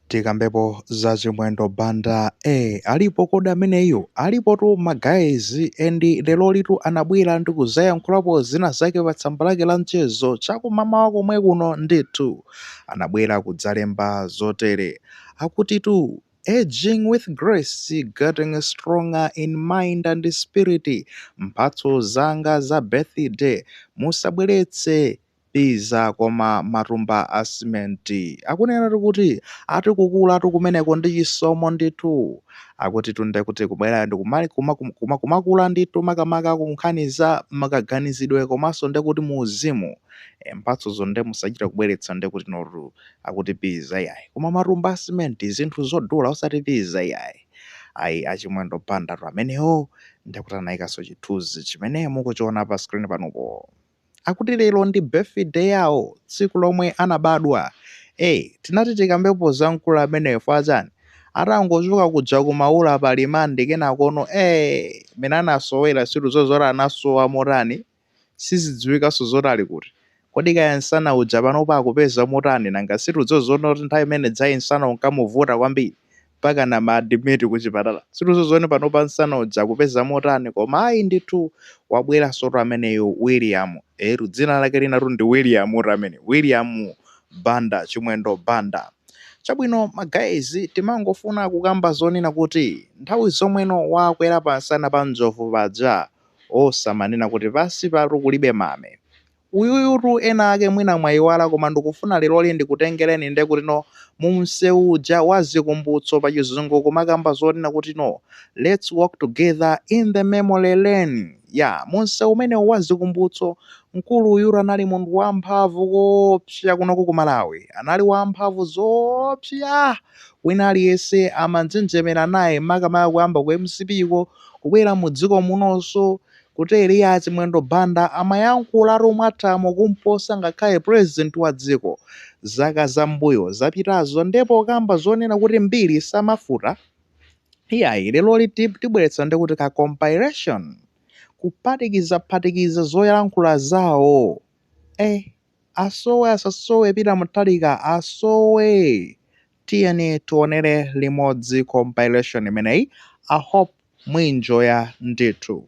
Tikambepo za chimwendo banda ee alipo kodi ameneyo alipotu ma guys and lerolitu anabwera ndi kuzayankhulapo zina zake pa tsamba lake la mchezo chakumamawa komwe kuno ndithu anabwera kudzalemba zotere akutitu Aging with grace, getting stronger in mind and spirit, mphatso zanga za birthday musabweretse Pizza koma matumba a cement akunenatu kuti ati kukulatu kumeneko ndi chisomo ndithu akutitu ndekuti kubwera ndikumali kuma kuma kuma kumakula ndithu makamaka ku nkhani za kaganizidwe komanso ndekuti mu uzimu e, mphatsozo nde musachite kubweretsa ndekuti notu akuti pizza iyayi koma matumba a cement zinthu zodula osati pizza iyayi ayi a Chimwendo Banda tu amenewo ndekuti anayikanso chithunzi chimene mukuchiona pa screen panupo. Akuti lero ndi birthday yawo, tsiku lomwe anabadwa. Eeh, tinati tikambepo za mkulu ameneyo fwa chani? Atangochoka kuja ku Maula pa remand kenakono eeh, mmene anasowera situdziwa zoti anasowa motani, sizidziwikanso zoti ali kuti. Kodi kaya nsana uja panopa akupeza motani, nanga situdziwa zonena kuti nthawi imene ijayi nsana unkamuvuta kwambiri, mpakana ma admit kuchipatala situdziwa zonena panopa nsana uja akupeza motani koma ayi ndithu wabwerasotu ameneyu William eetu dzina lake linatu ndi Williamutu amene William Banda Chimwendo Banda chabwino ma guys timangofuna kukamba zonena kuti nthawi zomweno wakwera pansana pa njovu paja osamanena kuti pansi patu kulibe mame Uyuyutu ena ake mwina mwayiwala koma ndikufuna leroli ndikutengereni nde kuti no mu msewu uja wa zikumbutso pa chizungu kumakamba zonena kuti no let's walk together in the memory lane ya mu msewu umenewu wa zikumbutso mkulu uyutu anali munthu wa mphamvu koopsa kunoku ku Malawi anali wa mphamvu zoopsa wina aliyense amanjenjemera naye makamaka kuyamba ku mcp ko kubwera mu dziko munoso Kuteroyo a Chimwendo Banda amayankhulatu mwathamo kumposa ngakhale president wa dziko zaka za mbuyo zapitazo nde pokamba zonena kuti mbiri samafuta iyayi leroli tibweretsa ndikuti ka compilation kuphatikizaphatikiza zoyankhula zawo eh. Asowe asasowe bi ntauni mutalika asowe tiyeni tionere limodzi compilation imeneyi i hope muinjoya ndithu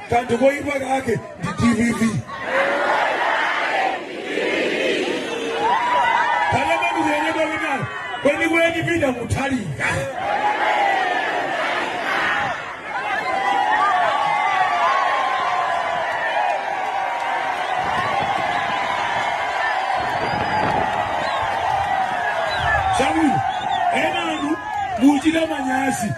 kanthu koyipa kake ndi dpp kanamanikuyenyedwa winayo kwenikweni pita kuthalika Shauli, ena anu muchita manyazi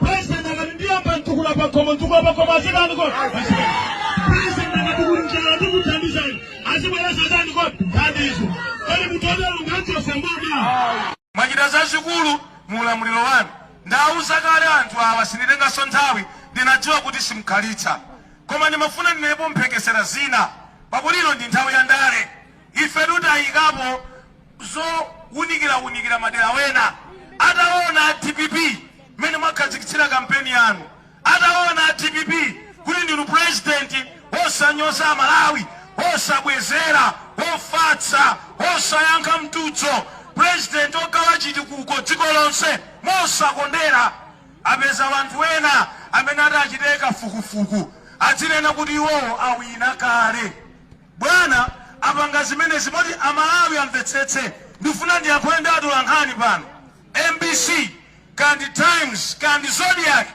President akati ndiyamba ntukula pakhomo ntukula pakhomo azitani kodi azibwera. President akati kuli njala ndikuthandizani azibwera satani kodi thandizo. Kodi mutotero ngachose mboma. mwachita zazikulu mu ulamuliro wanu ndawuza kale anthu awa sinditenganso nthawi ndinadziwa kuti simkhalitsa koma ndimafuna ndinenepo mphekesera zina pakuti ino ndi nthawi ya ndale ife tutayikapo zounikila unikila madera ena ataona a dpp mmene mwakhazikitsira kampeni yanu ataona a dpp kuti ndinu president wosanyoza amalawi wosabwezera wofatsa wosayankha mtutso president ogawa chitukuko dziko lonse mosakondera apeza wanthu wena amene atachite kafukufuku adzinena kuti iwowo awina kale Bwana apanga zimenezi poti a Malawi amvetsetse. Ndikufuna ndiyankhule ndi atolankhani pano, mbc kaya ndi Times kaya ndi Zodiak.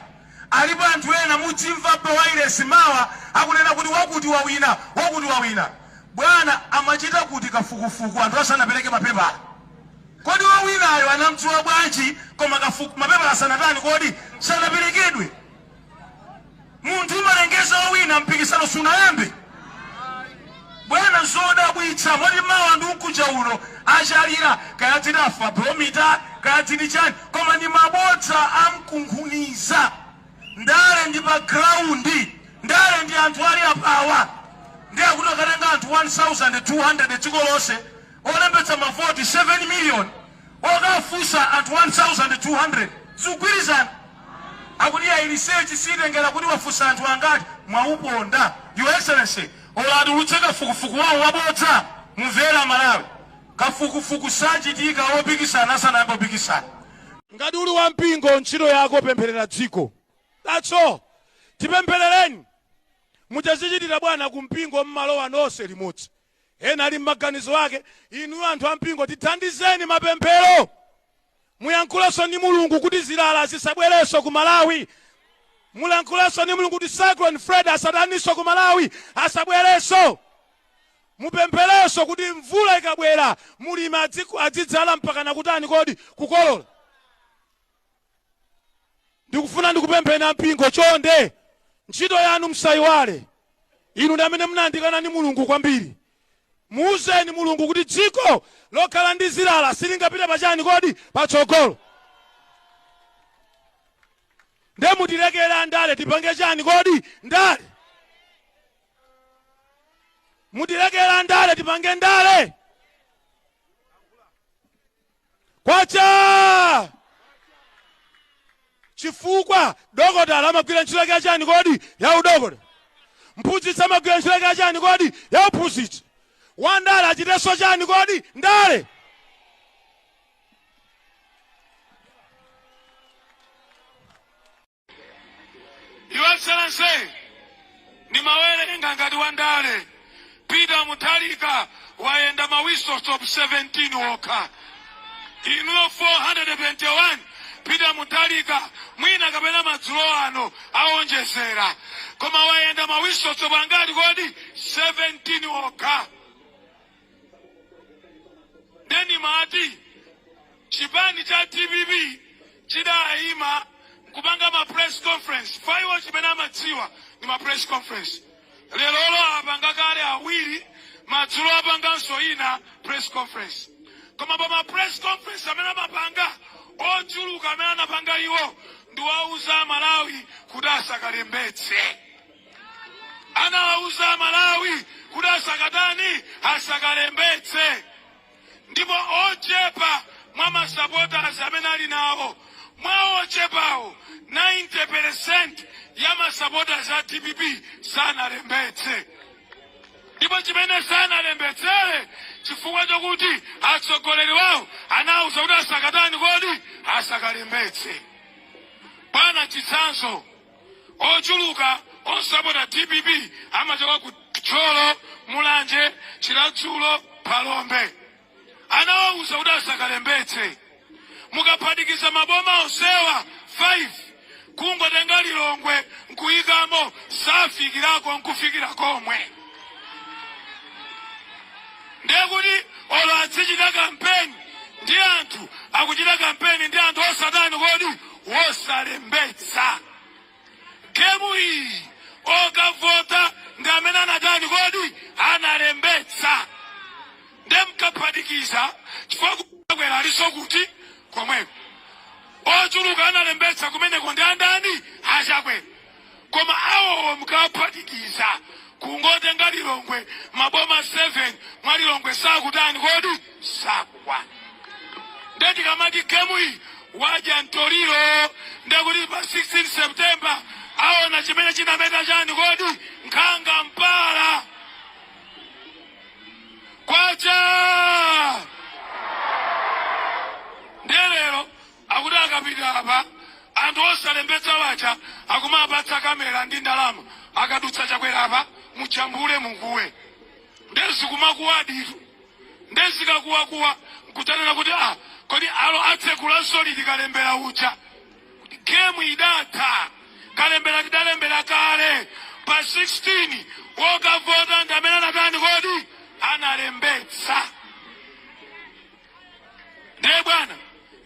Alipo anthu ena mudzimva pa wailesi mawa akunena kuti wakuti wawina, wakuti wawina. Bwana amachita kuti kafukufuku anthu asanapereke mapepala? Kodi wowinayo anamdziwa bwanji koma mapepala asanatani kodi, sanaperekedwe? munthu umalengeza wawina mpikisano sunayambe bwana zodabwitsa moti mawa ndi ukucha uno achalira kaya ndi Afrobarometer kaya ndi chani koma ndi mabodza amkunkhuniza ndale ndi pa graundi ndale ndi anthu ali apawa ndiye akuti akatenga anthu 1200 dziko lonse olembetsa mavoti 7 million okafunsa anthu 1200 zikugwirizana akuti ya research sitengera kuti wafunsa anthu angati mwauponda your excellency olo atulutse kafukufuku wawo wabodza imvera Malawi kafukufuku sachitika opikisana asanayamba opikisana ngati uli wampingo ntchito yako pempherera dziko that's all tipempherereni mukazichitira bwana kumpingo mmalowa nonse limodzi Ena ali mmaganizo ake inuyo anthu ampingo tithandizeni mapemphero muyankhulenso ndi mulungu kuti zilala zisabwerenso ku malawi mulankhulenso ndi mulungu kuti cyclone Freddy asataninso ku malawi asabwerenso mupempherenso kuti mvula ikabwera mulimi adzidzala mpakana kutani kodi kukolola ndikufuna ndikupempheni ampingo chonde ntchito yanu msayiwale inu ndi amene munayandikana ndi mulungu kwambiri muuzeni mulungu kuti dziko lokhala ndi zilala silingapite pachani kodi patsogolo nde mutilekere andale tipange chani kodi ndale mutilekere andale tipange ndale kwacha chifukwa dokotala amagwira ntchito yake yachani kodi ya udokotala mphunzitsi amagwira ntchito yake yachani kodi ya uphunzitsi wandale achitenso chani kodi ndale Your Excellency, ndimawerenga ngati wandale Peter Mutharika wayenda ma whistle stop 17 okha inuyo 421 Peter Mutharika mwina kapena madzulo ano awonjezera koma wayenda ma whistle stop angati kodi 17 okha nde ndimati chipani cha dpp chidayima nkupanga ma press conference chifukwa iwo chimene amadziwa ndi ma press conference lerolo apanga kale awiri madzulo apanganso ina press conference koma pa ma press conference amene amapanga ochuluka amene anapanga iwo ndi owauza amalawi kuti asakalembetse anawauza amalawi kuti asakatani asakalembetse ndipo ochepa mwa masapotazi amene ali nawo mwa ochepawo 90 peresenti ya masapotazi a dpp sanalembetse ndipo chimene sanalembetsere chifukwa chokuti atsogoleri wawo anawuza kuti asakatani kodi asakalembetse bwana chitsanzo Ochuluka osapota dpp amachoka ku Thyolo, Mulanje, Chiradzulo, Phalombe. Anawauza kuti asakalembetse. Mukaphatikiza maboma onsewa 5 kungotenga Lilongwe nkuyikamo safikirako nkufikira komwe. Ndiye kuti olo adzichita kampeni ndi anthu akuchita kampeni ndi anthu osatani kodi wosalembetsa gemu iyi okavota ndi amene anatani kodi analembetsa nde mukaphatikiza chifukwa Chakwera alinso kuti komweko ochuluka analembetsa kumeneko ndi andani a Chakwera koma awowo mkawaphatikiza kungotenga lilongwe maboma 7 mwa lilongwe sakutani kodi sakukwana nde tikamati gemu iyi wadya mtoliro ndekuti pa 16 septemba aona chimene chinameta chani kodi nkhanga mpala kwacha Akuti akapita apa anthu osalembetsa aja akumawapatsa camera ndi ndalama akadutsa chakwera apa mujambule mukuwe nde zikumakuwadi tu nde zikakuwakuwa nkudzanena kuti ah, kodi alo atsegulanso liti kalembera uja gemu idatha kalembera tidalembera kale pa 16 wokavota ndi amene anatani kodi analembetsa ndiye bwana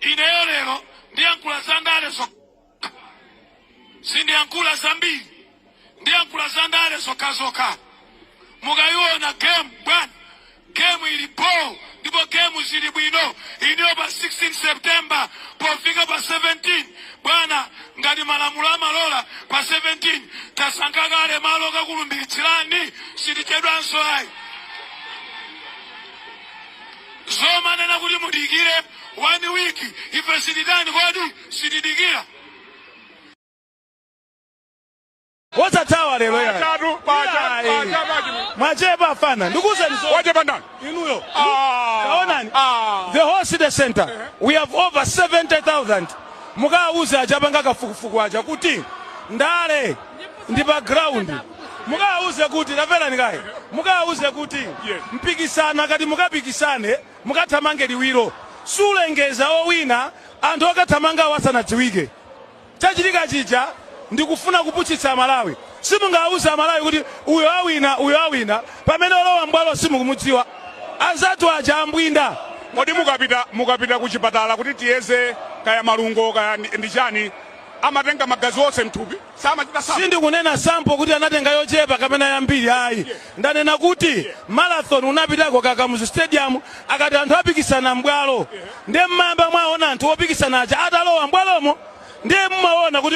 ineyo lero ndiyankhula za ndale zokha sindiyankhula zambiri ndiyankhula za ndale zokhazokha mukayiona game bwana gemu ili bho ndipo gemu zili bwino iniyo pa 16 september pofika pa 17 bwana ngati malamulo amalola pa 17 tasankha kale malo okakulumbiritsirani sitichedwanso ayi zomanena kuti mudikire one week ife sititani kodi sitidikira osathawa lero yayi. Pachatu, pachatu, Yayi. pachatu, pachatu. mwachepa afana ndikuuzeni zo- Wachepa ndani? inuyo Ah. taonani Ah. the whole city center we have over 70000 mukawauze aja apanga kafukufuku aja kuti ndale ndi pa ground Mukawauze kuti, tamverani kaye, mukawauze kuti mpikisano akati mukapikisane, mukathamange liwiro, sulengeza owina anthu okathamangawo asanadziwike. Chachitika chija ndi kufuna kupusitsa Amalawi. Simungawauze Amalawi kuti uyo awina, uyo awina pamene olowa m'bwalo simukumudziwa. Anzathu aja ambwinda. Kodi mukapita ku chipatala kuti tiyeze kaya malungo kaya ndi chani, amatenga magazi onse mthupi? samachita sample. Sindikunena sample kuti anatenga yochepa kapena yambiri ayi. Ndanena kuti marathon munapitako ku Kamuzu Stadium akati anthu apikisana m'bwalo. Ndiye mmayamba mwaona anthu opikisana aja atalowa m'bwalomo ndiye mumaona kuti